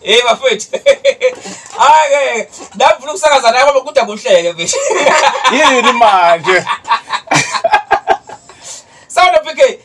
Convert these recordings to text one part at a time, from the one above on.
Hey bafethu. Hayi ke, ndafuna ukusakaza naye ngoba kude kuhleke mfethu. Yini manje? Sound PK.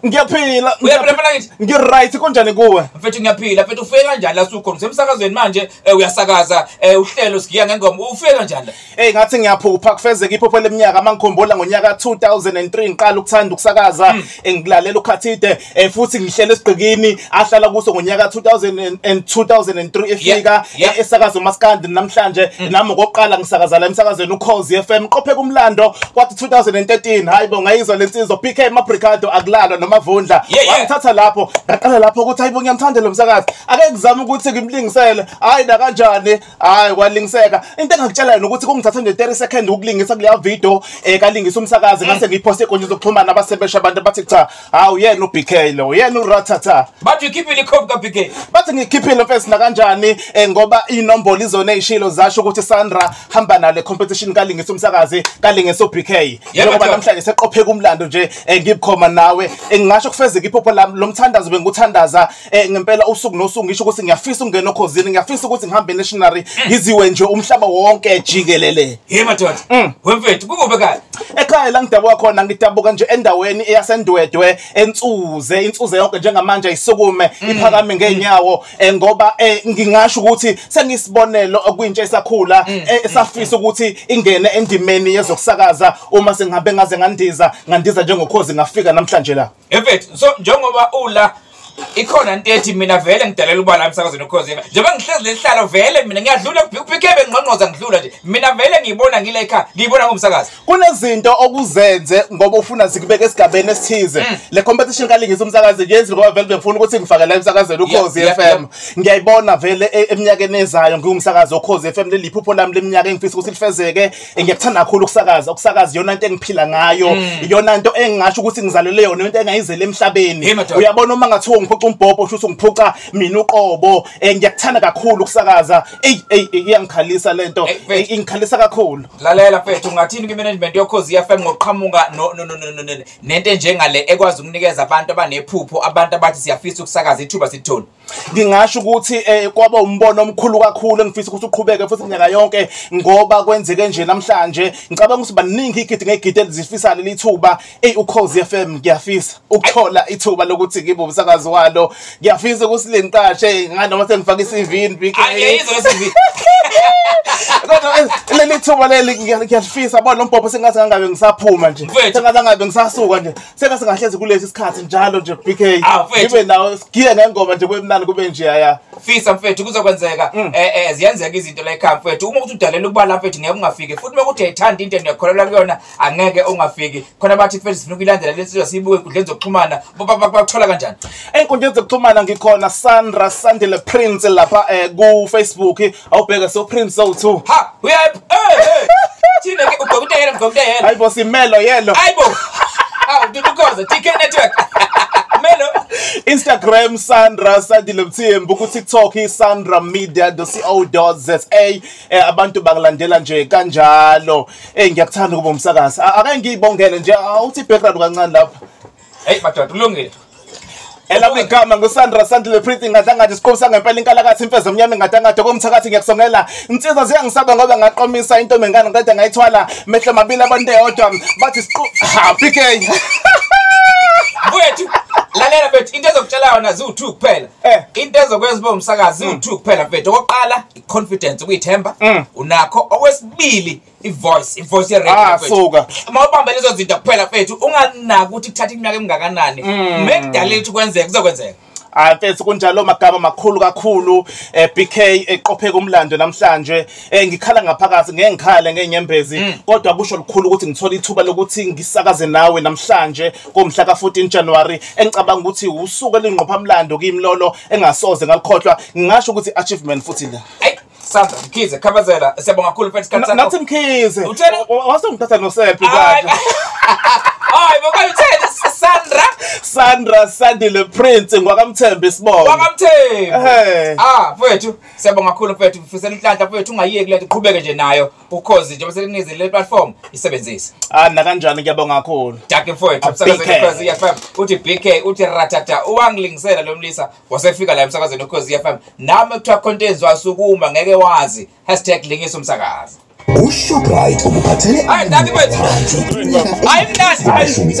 Ngiyaphila. Uyaphila phela ngithi. Ngiright konjani kuwe? Mfethu ngiyaphila, mfethu ufike kanjani la sukhona? Usemsakazweni manje, eh, uyasakaza, eh, uhlelo sigiya ngengoma. Ufike kanjani la? Hey ngathi ngiyaphupha kufezeka iphupho leminyaka mangikhumbula ngonyaka 2003 ngiqala ukuthanda ukusakaza hmm. engilalela ukhathide eh, futhi ngihlela esigqikini ahlala kuso ngonyaka 2000 2003 efika eh, esakaza uMaskandi namhlanje hmm. nami ngokuqala ngisakaza la emsakazweni uKhozi FM qophe kumlando kwathi 2013 hayibo ngayizwa lensizwa PK Mabricado akulalwa nomavundla wangithatha lapho ngaqala lapho ukuthi hayibo ngiyamthanda lo msakazi ake ngizame ukuthi ngimlingisele hayi na kanjani hayi kwalingiseka into engakutshela yona ukuthi kungithatha nje 30 second ukulingisa kuleya video um eh, kalingisa umsakazi ngase ngiyiphoste ekonje zokuxhumana abasebesha abantu bathi cha hawu yena ubk lo yena urathatha bathi ukhiphile ikhophi kabk bathi ngikhiphile mfesi nakanjani um ngoba inombolo izona eyishilo zasho ukuthi sandra hamba nale competition kalingisa umsakazi kalingisa ubk njengoba namhlanje seqopheka umlando nje um eh, ngibukhoma nawe um ngingasho kufezeka iphupho lami lo mthandazo bengikuthandaza eh ngempela usuku nosuku ngisho ukuthi ngiyafisa ukungena okhozini ngiyafisa ukuthi ngihambe nationary eh. ngiziwe nje umhlaba wonke jikelele hey madoda mm. wemfethu kukuphi kanye ekhaya la ngidabuka khona ngidabuka nje endaweni eyasendwedwe ensuze insuze yonke njengamanje ayisukume mm. iphakame ngenyawo eh, ngoba eh, ngingasho ukuthi sengisibonelo kwintsha esakhula mm. eh, esafisa ukuthi ingene endimeni yezokusakaza uma sengihambe ngaze ngandiza ngandiza njengokhozi ngafika namhlanje la efethu so njengoba ula ikhona into ethi mina vele ngidalela uba la emsakazweni ukhozi njengoba ngihlezi lesihlalo vele mina ngiyadlula kuphikebe nginqonqoza ngidlula nje mina vele ngiyibona ngile ekhaya ngiyibona ngumsakazi kunezinto okuzenze ngoba ufuna zikubeke esigabeni esithize mm. le competition kalingisa umsakazi yenzi ngoba vele bengifuna ukuthi ngifake la emsakazweni ukhozi yeah, FM yeah, yeah. ngiyayibona vele e, eminyakeni ezayo ngiwumsakazi okhozi FM leliphupho lami leminyaka engifisa ukuthi lifezeke ngiyakuthanda kakhulu ukusakaza ukusakaza iyona nto engiphila ngayo mm. iyona nto engingasho ukuthi ngizalelwe yona into engayizele emhlabeni uyabona uma ngathiwa ungiphuca umbhobho usho ukuthi ungiphuca mina uqobo um ngiyakuthanda kakhulu ukusakaza eyi eyi iyangikhalisa le nto ingikhalisa kakhulu lalela fethu ungathini kwi-management yokhozi yefm ngokuqhamuka nento enjengale ekwazi ukunikeza abantu abanephupho abantu abathi siyafisa ukusakaza ithuba sithoni ngingasho ukuthi eh, kwaba umbono omkhulu kakhulu engifisa ukuthi uqhubeke futhi minyaka yonke ngoba kwenzeke nje namhlanje ngicabanga ukuthi baningi igidi ngegidi elizifisa leli thuba eyi ukhozi FM ngiyafisa ukuthola ithuba lokuthi ngibe umsakazi walo ngiyafisa ukuthi lengiqashe nganoma sengifaka i-CV BK kodwa eh, leli thuba leli ngiyalifisa bona lombhobho sengathi ngangabe ngisaphuma nje sengathi ngangabe ngisasuka nje Sengase ngahlezi kulesi sikhathi njalo nje BK. Ah, mfethu. Ngibe nawe sigiye ngengoma nje kwemnani kube nje aya. fisa mfethu kuzokwenzeka Mm. eh eh ziyenzeka izinto la ekhaya mfethu uma uthi udalela ukubala mfethu ngeke ungafiki futhi uma kuthi ayithanda into niyakholelwa kuyona angeke ungafiki khona bathi mfethu sifuna ukuyilandela le nsizwa siyibuke enkundleni zokuxhumana Ba- ba- ba- bakuthola kanjani Enkundleni zokuxhumana ngikhona Sandra Sandile Prince lapha eh, ku Facebook awubheke so prim so two ha uyaphi eh eh thina ke ubhekute yena ubhekute yena hayibo simelo yelo hayibo awu dudukoza tk network melo Instagram Sandra Sadile Mthembu ku TikTok Sandra Media .co.za eh, abantu bangilandela nje kanjalo eh ngiyakuthanda ukuba umsakazi akangiyibongele nje awuthi background kancane lapha Hey madoda kulungile. Elami igama nguSandra Sandile Pretty ngadlangathi siqobu sangempela inkalakathi imfeza emnyama ngadlangathi komthakathi ngiyakusongela insizwa ziyangisaba ngoba ngaqomisa intombi ngane ngiqeda ngayithwala mehlo mabili abantu eyodwa bathi siqu ha PK Mfowethu lalela mfethu into ezokutshela yona ziwu-two kuphela eh. into ezokwenza uba umsakazi ziwu-two kuphela mfethu okokuqala i-confidence ukuyithemba mm. unakho okwesibili ivoice ivoice yeredio ah soka uma ubamba lezo zinto kuphela mfethu unganaki ukuthi kuthatha iminyaka emingakanani mm. mekudala ukuthi kwenzeke kuzokwenzeka Ah mfethu kunjalo magama makhulu kakhulu eh BK eqopheka umlando namhlanje eh ngikhala ngaphakathi ngeke ngikhale ngenyembezi mm. kodwa kusho lukhulu ukuthi ngithola ithuba lokuthi ngisakaze nawe namhlanje komhla ka 14 January engicabanga ukuthi usuku elingqopha umlando kimlolo engasoze ngalikhohlwa ngingasho ukuthi achievement futhi la Sandra Mkhize Khabazela siyabonga kakhulu mfethu isikhathi sakho. Nathi Mkhize. Uthena wasongithatha nosephi manje. Hayi baba uthena Sandra Sandra Sandile Prince ngwakamthembe isibongo. Wakamthembe. Eh. Ah mfethu siyabonga kakhulu mfethu mfisela inhlanhla mfethu ungayeki lento uqhubeke nje nayo ukhozi njengoba selikunizile le platform isebenzise. Ah na kanjani ngiyabonga kakhulu. Dake mfethu msakazi ukhozi yafam uthi BK uthi ratata uwangilingisela lo mlisa wasefika la emsakazweni ukhozi FM nami kuthiwa khonto enziwa sukuma ngeke wazi hashtag lingiso umsakazi uShoprite ukuphathele Hayi, nami mfethu. Hayi, mnandi.